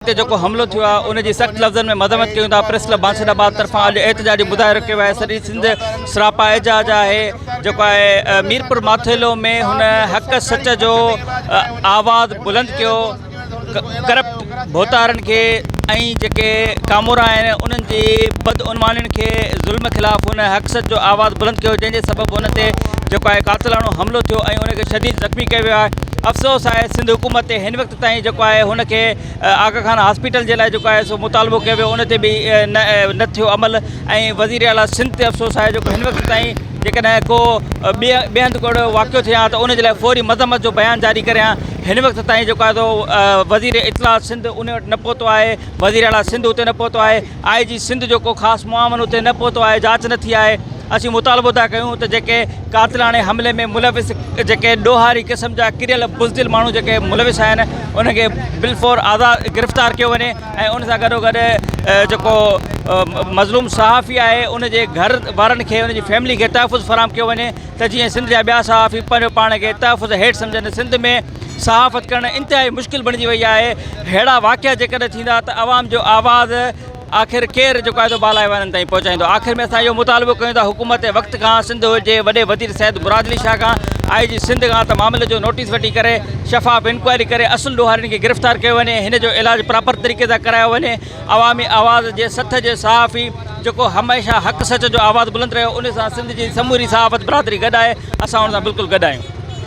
تي جيڪو حملو ٿيو آهي ان جي سخت لفظن ۾ مذمت ڪيون ٿا پريس ڪلب بانسهري آباد طرفان اڄ احتجاجي مظاهرو ڪيو آهي سڄي سنڌ سراپا احجاج آهي جيڪو آهي ميرپور ماٿيلو ۾ هن حق سچ جو آواز بلند ڪيو ڪرپٽ ڀوتارن کي ۽ جيڪي ڪامورا آهن انهن جي بدعنوانين کي ظلم خلاف هن حق سچ جو آواز بلند ڪيو جنهن جي سبب هن تي جيڪو آهي قاتلاڻو حملو ٿيو ۽ ان کي شديد زخمي ڪيو ويو آهي افسوس آهي سنڌ حڪومت تي هن وقت تائين جيڪو آهي هن کي آغا خان هاسپيٽل جي لاء جيڪو آهي سو مطالبو ڪيو ويو ان تي به نه نه ٿيو عمل ۽ وزير اعلٰي سنڌ تي افسوس آهي جو هن وقت تائين جيڪڏهن کو ٻي ٻي هنڌ ڪهڙو واقعو ٿي آ ته ان جي لاء فوري مذمت جو بيان جاري ڪري آ هن وقت تائين جيڪو آهي سو وزير اطلاعات سنڌ ان وٽ نه پهتو آهي وزير اعلٰي سنڌ اتي نه پهتو آهي آء جي سنڌ جو ڪو خاص معاون اتي نه پهتو آهي، جاچ نه ٿي آهي، اسين مطالبو ٿا ڪيون ته جيڪي قاتلاڻي حملي ۾ ملوث جيڪي ڏوهاري قسم جا ڪريل بزدل ماڻهو جيڪي ملوث آهن انهن کي بالفور آزاد گرفتار ڪيو وڃي ۽ ان سان گڏو گڏ جيڪو مظلوم صحافي آهي ان جي گهر وارن کي ان جي فيملي کي تحفظ فراهم ڪيو وڃي ته جيئن سنڌ جا ٻيا صحافي پنهنجو پاڻ کي تحفظ هيٺ سمجهن سنڌ ۾ صحافت ڪرڻ انتهائي مشڪل بڻجي وئي آهي ههڙا واقعا جيڪڏهن ٿيندا ته عوام جو آواز آخر ڪير جيڪو آهي سو بالا ايوانن تائين پهچائيندو آخر ۾ اسان اهو مطالبو ڪيون ٿا حڪومت وقت کان سنڌ جي وڏي وزير سيد مراد علي شاهه کان آئي جي سنڌ کان ته معاملي جو نوٽيس وٺي ڪري شفاف انڪوائري ڪري اصل ڏوهارين کي گرفتار ڪيو وڃي هن جو علاج پراپر طريقي سان ڪرايو وڃي عوامي آواز جي سٿ جي صحافي جيڪو هميشه حق سچ جو آواز بلند رهيو ان سان سنڌ جي سموري صحافت برادري گڏ آهي اسان ان سان بلڪل گڏ آهيون